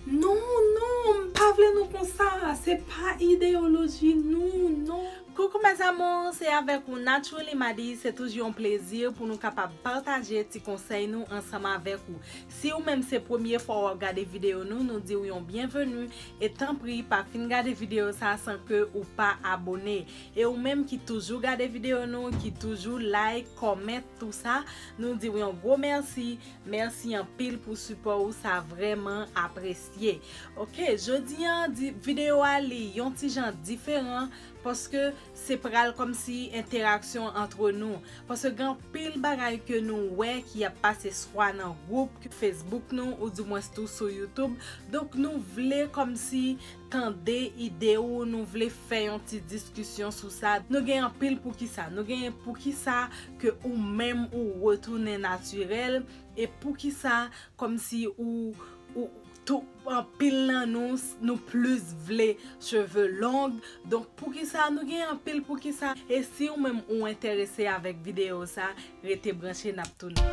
Non non m pa vle nou konsa se pa ideyoloji nou non. Coucou mes amours se avèk ou Naturally Madi se toujou yon plezi pou nou kapab pataje ti konsèy nou ansanm avèk ou si ou menm se premye fwa wap gade video nou nou diw yon byenveni e tanpri pa fin gade video sa san ke ou pa abone e ou menm ki toujou gade video nou ki toujou like comment tout sa nou diw yon gwo merci. Merci anpil pou sipò ou sa vrèman apresye ok jodi an di video a li yon ti jan diferan paske se pral kòmsi enteraksyon antre nou paske gen anpil bagay ke nou wè ki ap pase swa nan gwoup facebook nou ou di mwens tou sou youtube donk nou vle kòmsi tande ide ou nou vle fè yon ti diskisyon sou sa nou gen anpil poukisa nou gen poukisa ke ou menm ou retounen natirèl e poukisa kòmsi ou ou tou anpil nan nou nou plis vle cheve long donk poukisa nou gen anpil poukisa e si ou menm ou enterese avèk videyo sa rete branche nap tounen.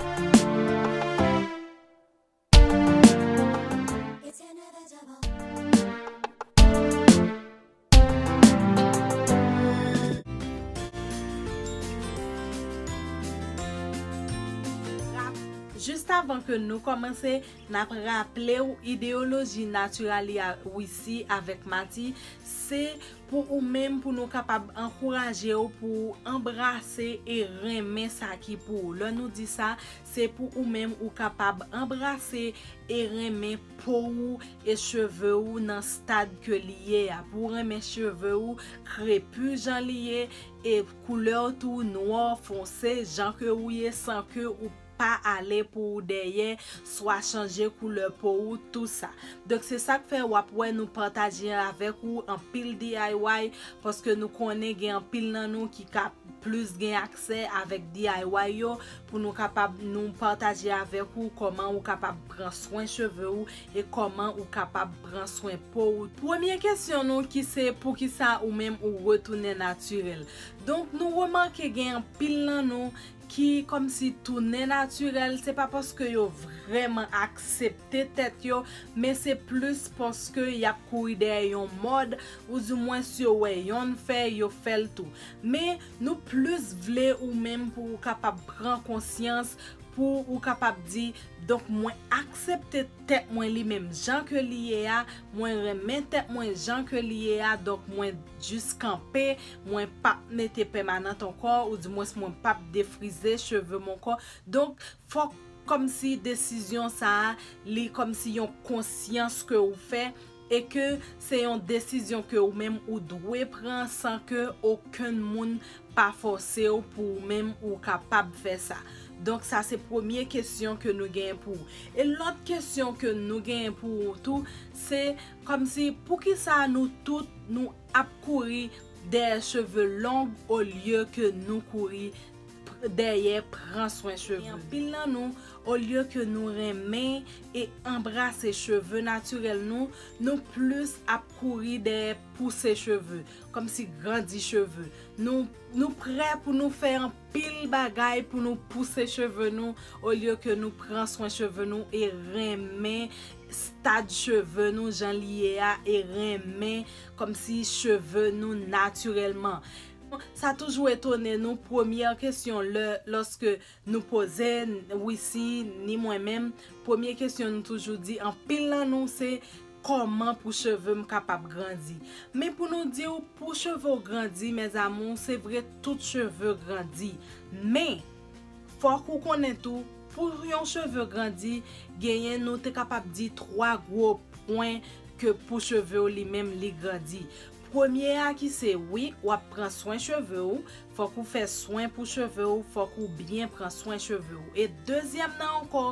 Jist avan ke nou kòmanse, n ap raple w ideyoloji Naturalia Wisi avèk Mati se pou ou menm pou nou kapab ankouraje w pou w anbrase e renmen sa ki pou ou. Lè nou di sa, Se pou ou menm ou kapab anbrase e renmen po ou e cheve ou nan stad ke li ye a, pou ou renmen cheve ou krepu jan li ye e koulè w tou nwò fonse jan ke ou ye san ke ou pa ale pou ou dèyè swa chanje koulè po ou tou sa. Donk se sak fè wap wè nou pataje avèk ou anpil DIY paske nou konnen gen anpil nan nou ki ka plis gen aksè avèk DIY yo pou nou kapab nou pataje avèk ou kòman ou kapab pran swen cheve ou e kòman ou kapab pran swen po ou. Premye kesyon nou ki se poukisa ou menm ou retounen natirèl. Donk nou remake gen anpil nan nou ki kòmsi tounen natirèl se pa paske yo vrèman aksepte tèt yo men se plis paske y ap kouri dèyè yon mòd ou di mwens yo wè yonn fè yo fè l tou. Men, nou plis vle ou menm pou ou kapab pran konsyans, pou ou kapab di, Donk mwen aksepte tèt mwen li menm jan ke li ye a, mwen renmen tèt mwen jan ke li ye a, donk mwen jis kanpe, mwen p ap mete pèmanant ankò, ou di mwens mwen p ap defrize cheve m ankò. Donk, fòk kòmsi desizyon sa a, li kòmsi yon konsyans ke ou fè, E ke se yon desizyon ke ou menm ou dwe pran san ke okenn moun pa fòse ou pou ou menm ou kapab fè sa. Donk sa se premye kesyon ke nou genyen pou ou. E lòt kesyon ke nou genyen pou ou tou, se kòmsi poukisa nou tout nou ap kouri dèyè cheve long olye ke nou kouri dèyè pran swen cheve nou. Gen anpil nan nou, olye ke nou renmen e anbrase cheve natirèl nou, nou plis ap kouri dèyè pouse cheve, kòmsi grandi cheve. Nou prè pou nou fè anpil bagay pou nou pouse cheve nou, olye ke nou pran swen cheve nou e renmen stad cheve nou jan li ye a e renmen kòmsi cheve nou natirèlman. Sa toujou etone nou premyè kesyon lè lòske nou poze Wisi ni mwen menm premye kesyon nou toujou di anpil nan nou se kòman pou cheve m kapab grandi men pou nou di w pou cheve w grandi mes amour se vre tout cheve grandi men fòk ou konnen tou pou yon cheve grandi genyen nou te kapab di 3 gwo pwen ke pou cheve w li menm li grandi. Premye a ki se wi wap pran swen cheve ou fòk ou fè swen pou cheve ou fòk ou byen pran swen cheve ou e dezyèm nan ankò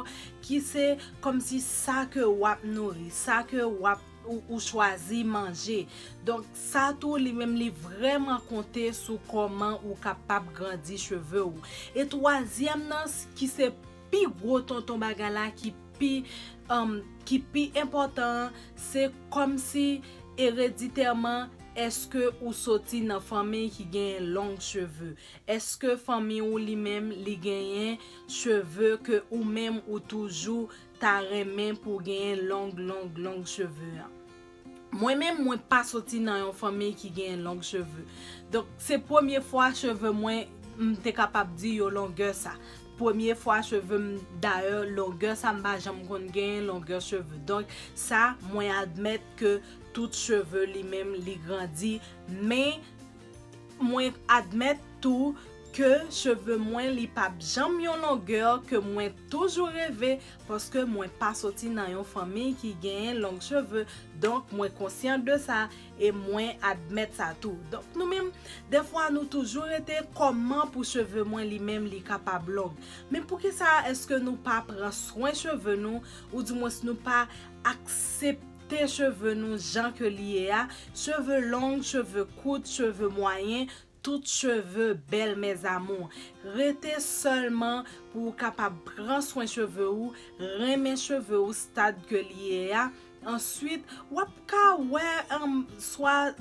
ki se kòmsi sa ke wap nouri sa ke wap ou chwazi manje donk sa tou li menm li vrèman konte sou kòman ou kapab grandi cheve ou e twazyèm nan ki se Pi gwo tonton bagay la ki pi um ki pi enpòtan an se kòmsi ereditèman eske ou soti nan fanmiy ki genyen long cheve? Eske fanmiy ou li menm li genyen cheve ke ou menm ou toujou ta renmen pou genyen long long long cheve an? Mwen menm mwen pa soti nan yon fanmiy ki genyen long cheve. Donk se premye fwa cheve mwen m te kapab di yo longè sa. Premye fwa cheve m dayè longè sa m pa janm konn genyen longè cheve. Donk sa mwen admèt ke tout cheve li menm li grandi men Mwen admèt tou ke cheve mwen li pap janm yon longeur ke mwen toujou reve paske mwen pa soti nan yon fanmiy ki genyen long cheve donk mwen konsyan de sa e mwen admèt sa tou donk nou menm dèfwa nou toujou rete kòman pou cheve mwen li menm li kapab long men poukisa eske nou pa pran swen cheve nou ou di mwens nou pa aksepte Te cheve nou jan ke li ye a, cheve long, cheve kout, cheve mwayen, tout cheve bèl mes amours. Rete sèlman pou ou kapab pran swen cheve ou, renmen cheve ou stad ke li ye a, answit wap ka wè swa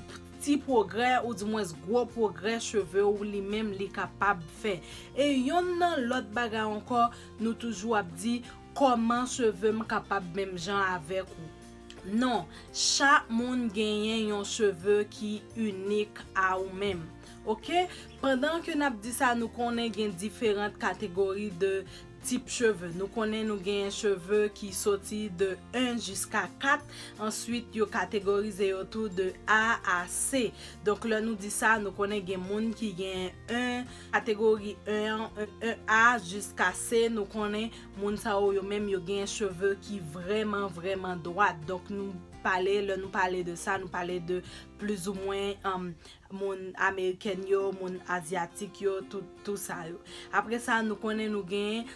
ti pwogrè ou di mwens gwo pwogrè cheve ou li menm li kapab fè. E yonn nan lòt bagay ankò nou toujou ap di, Kòman cheve m kapab menm jan avèk ou? Non, chak moun genyen yon cheve ki inik a ou menm. Ok, pandan ke nap di sa nou konnen gen diferant kategori de tip cheve. Nou konnen nou genyen cheve ki soti de 1 jiska 4, answit yo kategorize yo tou de A a C. Donk lè nou di sa nou konnen gen moun ki genyen 1. Kategori 1 an, 1A jiska C, nou konnen moun sa yo, yo menm yo gen cheve ki vrèman, vrèman dwat. Donk nou pale, lè nou pale de sa, nou pale de plizoumwen moun amerikèn yo, moun azyatik yo, tout sa yo. Apre sa, nou konnen nou gen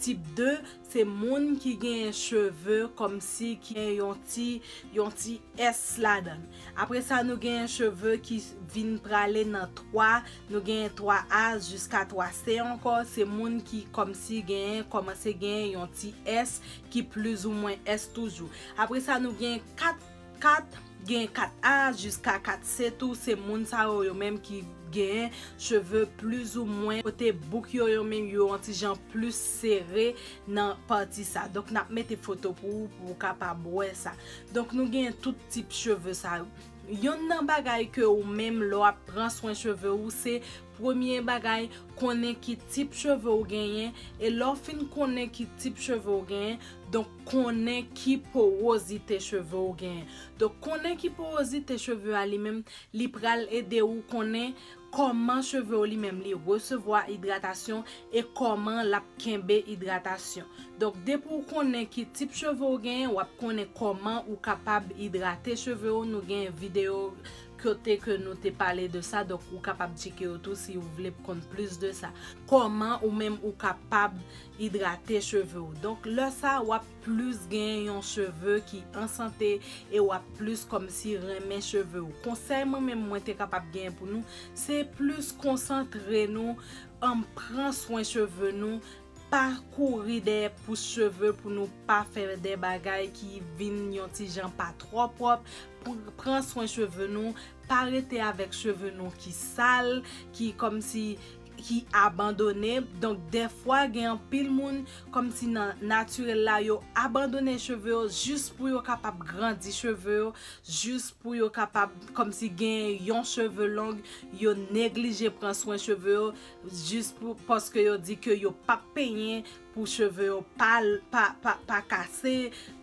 tip 2. Se moun ki genyen cheve kòmsi ki gen yon ti yon ti S ladan l. Apre sa nou genyen cheve ki vin prale nan 3, nou genyen 3 A jiska 3 C ankò, se moun ki kòmsi genyen kòmanse genyen yon ti S ki plizoumwen S toujou. Apre sa nou genyen 4. 4, Gen 4 A jiska 4 C tou, se moun sa yo yo menm ki gen cheve plis ou mwen kote bouk yo yo menm yo yon ti jan plis sere nan pati sa. Donk n ap mete foto pou ou pou ou kapab wè sa. Donk nou gen tout tip cheve sa yo. Yonn nan bagay ke ou menm lè w ap pran swen cheve ou se premye bagay konnen ki tip cheve ou genyen e lè w fin konnen ki tip cheve ou genyen donk konnen ki powozite cheve ou genyen. Donk konnen ki powozite cheve a li menm li pral ede ou konnen kòman cheve ou li menm li resevwa idratasyon e kòman lap kenbe idratasyon. Donk depi ou konnen ki tip cheve ou genyen wap konnen kòman ou kapab idrate cheve ou nou gen videyo kote ke nou te pale de sa donk ou kapab tcheke yo tou si ou vle konn plis de sa. Kòman ou menm ou kapab Idrate cheve w. Donk lè sa w ap plis gen yon cheve ki an sante e w ap plis kòmsi renmen cheve w. Konsèy mwen menm mwen te kapab gen pou nou, se plis konsantre nou an pran swen cheve nou, pa kouri dèyè pous cheve pou nou pa fè dè bagay ki vin yon ti jan pa twò pwòp, pran swen cheve nou, pa rete avèk cheve nou ki sal, ki kòmsi ki abandone donk dèfwa gen anpil moun kòmsi nan natirèl la yo abandone cheve yo jis pou yo kapab grandi cheve yo jis pou yo kapab kòmsi gen yon cheve long yo neglije pran swen cheve yo jis pou paske yo di ke yo pap penyen Pou cheve yo pa kase,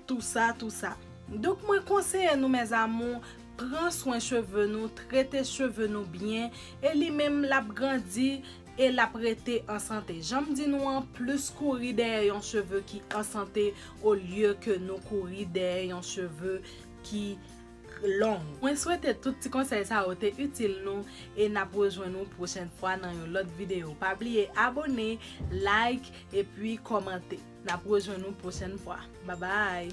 tou sa, tou sa. Donk mwen konseye nou mes amours, pran swen cheve nou, trete cheve nou byen, e li menm l ap grandi e l ap rete an sante. Jan m di nou an, plis kouri dèyè yon cheve ki an sante olye ke nou kouri dèyè yon cheve ki. long. Mwen swete tout ti konsèy sa yo te itil nou e nap rejwenn ou pwochen fwa nan yon lòt video pa bliye abone, like epi kòmante nap rejwenn ou pwochen fwa babay.